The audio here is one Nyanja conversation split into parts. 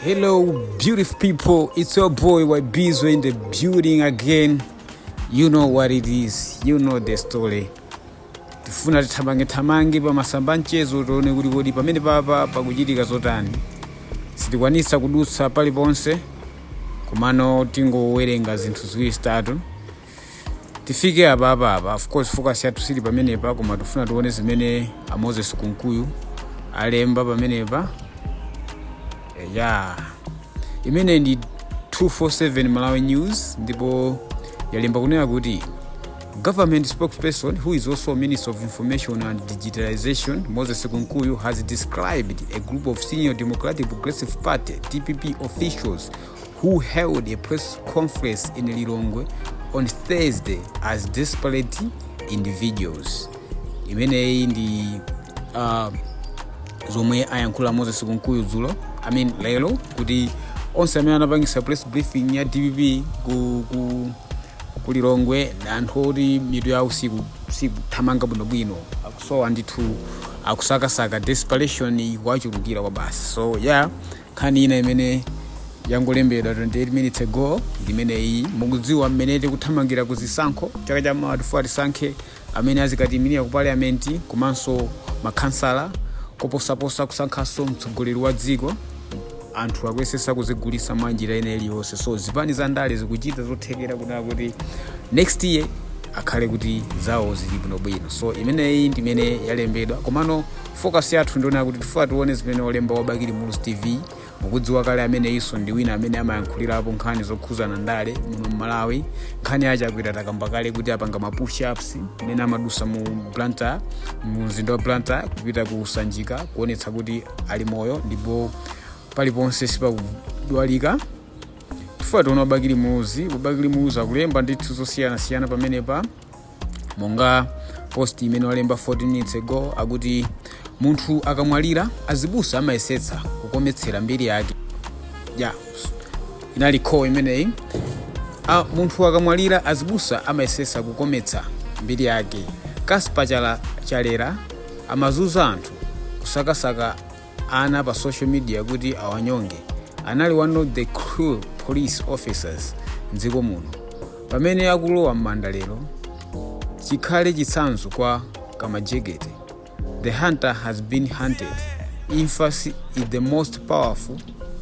Hello, beautiful people. It's your boy Wabizo in the building again. You know what it is. You know the story. tifuna tithamange thamange pa masamba a mchezo tione kuti kodi pamene papa pakuchitika zotani sitikwanisa kudutsa paliponse komano tingowerenga zinthu ziwiri zitatu tifike apa apa apa of course focus yathu siili pamenepa koma tifuna tione zimene a moses kunkuyu alemba pamenepa Eh, ya imene ndi 247 malawi news ndipo yalemba kunena kuti government spokesperson who is also minister of information and digitalization moses kunkuyu has described a group of senior democratic progressive party dpp officials who held a press conference in Lilongwe on Thursday as desperate individuals. Imeneyi ndi uh, zomwe ayankhula a Moses Kunkuyu dzulo I mean lero kuti onse amene anapangisa press briefing ya DPP ku, ku, ku Lilongwe ndi anthu oti mitu yawo siku- sikuthamanga bwinobwino akusowa ndithu akusakasaka desperation ikuwachulukira kwa basi so yeah nkhani ina imene yangolembedwa 28 minutes ago ndimeneyi mukudziwa mmene tikuthamangira ku zisankho chaka cha mawa tifuna tisankhe amene azikatiyimirira ku parliamenti komanso makhansala koposaposa kusankhanso mtsogoleri wa dziko anthu akuyesesa kuzigulisa mwa njira ina iliyonse so zipani za ndale zikuchita zothekera kunaa kuti next year akhale kuti zawo zili bwinobwino so imeneyi ndimene yalembedwa komano focus yathu ndi yonena kuti tifuna tione zimene olemba wa bakili muluzi tv mukudziwa kale ameneyinso ndi wina amene amayankhulirapo nkhani zokhuzana ndale muno mmalawi nkhani ya a Chakwera takamba kale kuti apanga ma push ups amene amadusa mu blantyre mu mzinda wa blantyre kupita ku sanjika kuonetsa kuti ali moyo ndipo paliponse sipakudwalika tifuna tione a bakili muluzi a bakili muluzi akulemba ndithu zosiyanasiyana pamenepa monga post imene walemba 14 minutes ago akuti munthu akamwalira azibusa amayesetsa kukometsera mbiri yake ya inali quote imeneyi A- munthu akamwalira azibusa amayesetsa kukometsa mbiri yake kaspa chala chalera amazuza anthu kusakasaka ana pa social media kuti awanyonge anali one of the cruel police officers mdziko muno pamene akulowa m'manda lero chikhale chitsanzo kwa kamajekete the hunter has been hunted imfa si- is the most powerful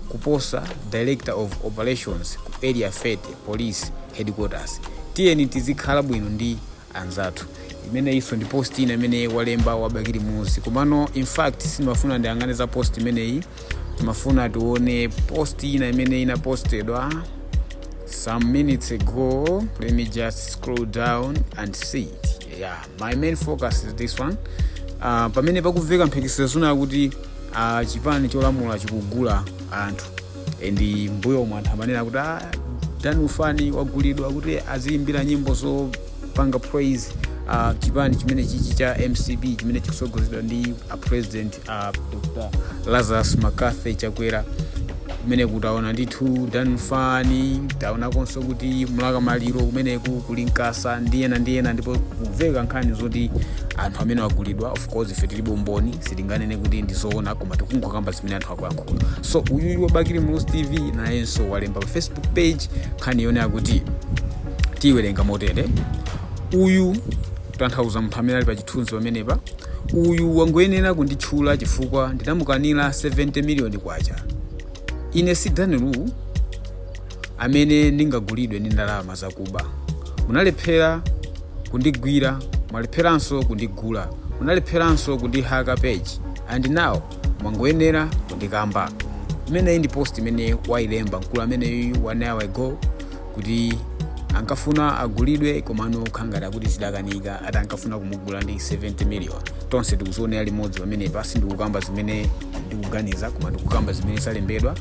kuposa director of operations ku area 30 police headquarters tiyeni tizikhala bwino ndi anzathu imeneyinso ndi post ina imene walemba wa bakili muluzi komano infact sindimafuna ndiyang'ane za post imeneyi timafuna tione post ina imene inapostedwa some minutes ago let me just scroll down and see it yeah my main focus is this one uh, pamene pakumveka mphekesera zina kuti uh, chipani cholamula chikugula anthu and mbuyomu anthu amanena kuti "Ah, dan lufani wagulidwa kuti aziyimbira nyimbo zopanga praise uh, chipani chimene chichi cha mcp chimene chikusogozedwa ndi a president uh, dr lazarus mccarthy chakwera kumeneku taona ndithu dan lufani taonakonso kuti mlaka maliro kumeneku kuli nkasa ndi ena ndi ena ndipo kumveka nkhani zoti anthu amenewa agulidwa of course ife tilibe umboni sitinganene kuti ndizoona koma tikungokamba zimene anthu akuyankhula so uyuyu wa bakili muluzi tv nayenso walemba pa facebook page nkhani yonena kuti tiyiwerenga motere uyu tanthauza munthu amene ali pa chithunzi pamenepa uyu wangoyenera kunditchula chifukwa ndinamukanira 70 miliyoni kwacha ine si dan lu amene ndingagulidwe ndi ndalama zakuba munalephera kundigwira mwalepheranso kundigula munalepheranso kundihaka page and now mwangoyenera kundikamba imeneyi ndi post imene wayilemba mkulu ameneyu one hour ago kuti ankafuna agulidwe komano khangati akuti zidakanika ati ankafuna kumugula ndi 70 million tonse tikuzionera limodzi pamenepa sindikukamba zimene ndikuganiza koma ndikukamba zimene zalembedwa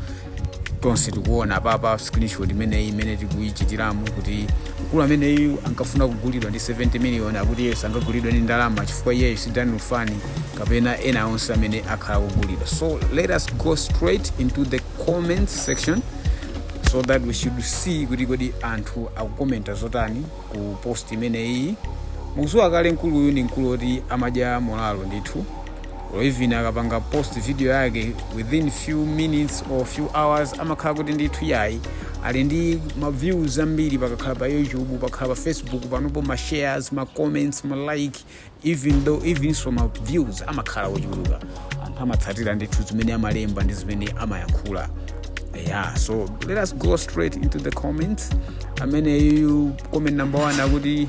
tonse tikuona papa screenshot imeneyi imene tikuyichitiramo kuti mkulu ameneyu ankafuna kugulidwa ndi 70 miliyoni akuti iye sangagulidwe ndi ndalama chifukwa iyeyo si dan lufani kapena ena onse amene akhala akugulidwa so let us go straight into the comment section so that we should see kuti kodi anthu akukomenta zotani ku post imeneyi mukuziwa kale mkuluyu ndi mkulu oti amadya molalo ndithu or even akapanga post video yake within few minutes or few hours amakhala kuti ndithu yayi ali ndi ma views ambiri pakakhala pa youtube pakakhala pa facebook panopo ma shares ma comments ma like even though evenso ma views amakhala ochuluka anthu amatsatira ndithu zimene amalemba ndi zimene amayankhula yeah so let us go straight into the comments ameneyu comment number one akuti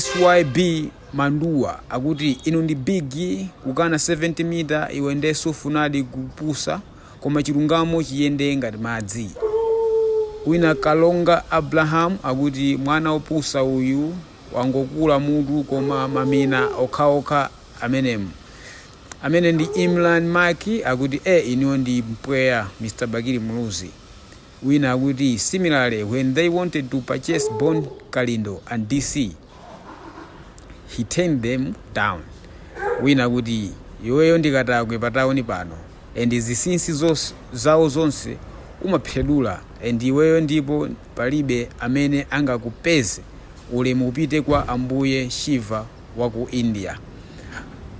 SYB manduwa akuti inu ndi big kukana 70 mita iwe nde sufunadi kupusa koma chilungamo chiyende ngati madzi wina kalonga abraham akuti mwana opusa uyu wangokula mutu koma mamina okhaokha amenemu amene ndi imran maki akuti e inuyo ndi mpweya mr bakili muluzi Wina akuti similarly when they wanted to purchase Bon Kalindo and DC he turned them down. Wina akuti iweyo ndi katakwe pa town pano and zisinsi zos, zawo zonse umaphedula and iweyo ndipo palibe amene angakupeze ulemu upite kwa Ambuye Shiva wa ku India.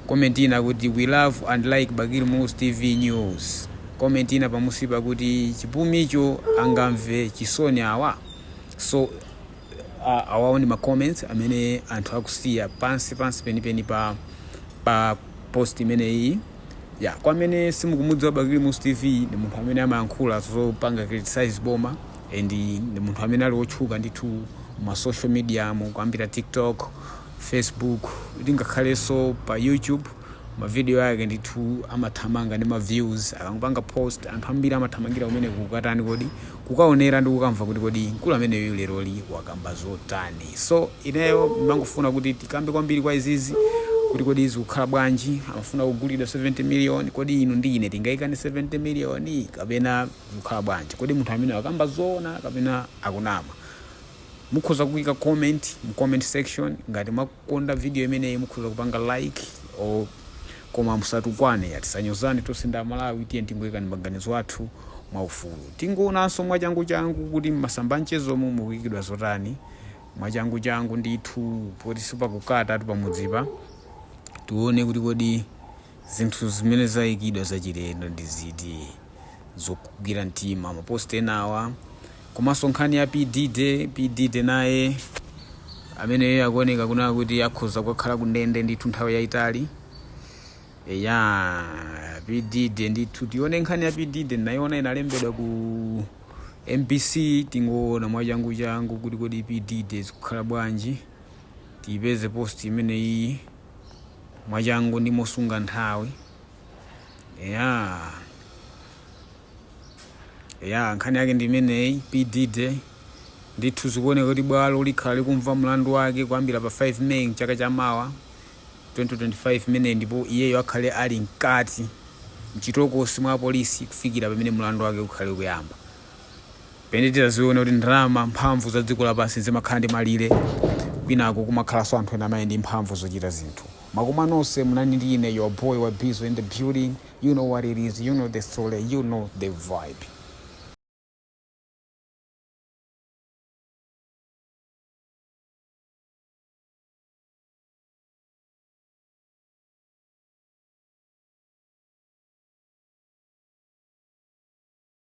Comment ina akuti we love and like Bakili Muluzi TV news. Comment ina pamunsipa akuti chipumicho angamve chisoni awa. So a- awawo ndi ma comments amene anthu akusiya pansi pansi penipeni pa pa post imeneyi ya kwa amene simukumudziwa Bakili Muluzi TV ndi munthu amene amayankhula zopanga criticize boma and ndi munthu amene ali wotchuka ndithu ma social mediamu kuyambira tiktok, facebook ndi ngakhalenso pa YouTube ma video ake ndithu amathamanga ndi ma views akangopanga post anthu ambiri amathamangira kumeneko kukatani kodi kukaonera ndi kukamva kuti kodi mkulu ameneyu leroli wakamba zotani so ineyo ndimangofuna kuti tikambe kwambiri kwa izizi kuti kodi zikukhala bwanji amafuna kugulidwa 70 million kodi inu ndi ine tingaikane 70 million kapena zikukhala bwanji kodi munthu ameneyu wakamba zoona kapena akunama Mukhoza kuika comment mu comment section ngati mwakonda video imeneyi mukhoza kupanga like or koma musatukwane ya tisanyozane tonse ndi amalawi tiyeni tingoikani maganizo athu mwaufulu tingoonanso mwachanguchangu kuti mmasamba amchezomu mukuikidwa zotani mwachanguchangu ndithu post ziwiri kaya zitatu pamunsipa tione kuti kodi Zinthu zimene zaikidwa zachilendo ndi ziti zokugwira mtima ma post enawa komanso nkhani ya P Diddy, P Diddy naye ameneyo akuoneka kunena kuti akhoza kukakhala ku ndende ndithu nthawi yaitali eya P Diddy ndithu tione nkhani ya P Diddy ndinayiona inalembedwa ku MBC tingoona mwachangu changu kuti kodi P Diddy zikukhala bwanji tiyipeze post imeneyi. mwachangu ndi mosunga nthawi ya ya nkhani yake ndi imeneyi P Diddy ndithu zikuoneka kuti bwalo likhala likumva mlandu wake kuyambira pa 5 may mchaka cha mawa 2025 imeneyi ndipo iyeyo akhale ali mkati mchitokosi mwa apolisi kufikira pamene mlandu wake ukhale ukuyamba penatu tizaone kuti ndalama mphamvu za dziko lapansi zimakhala ndi malire kwinako kumakhalanso anthu ena amene ali ndi mphamvu zochita zinthu zikomo nonse munali ndi ine your boy wa bizo in the building you know what it is you know the story you know the vibe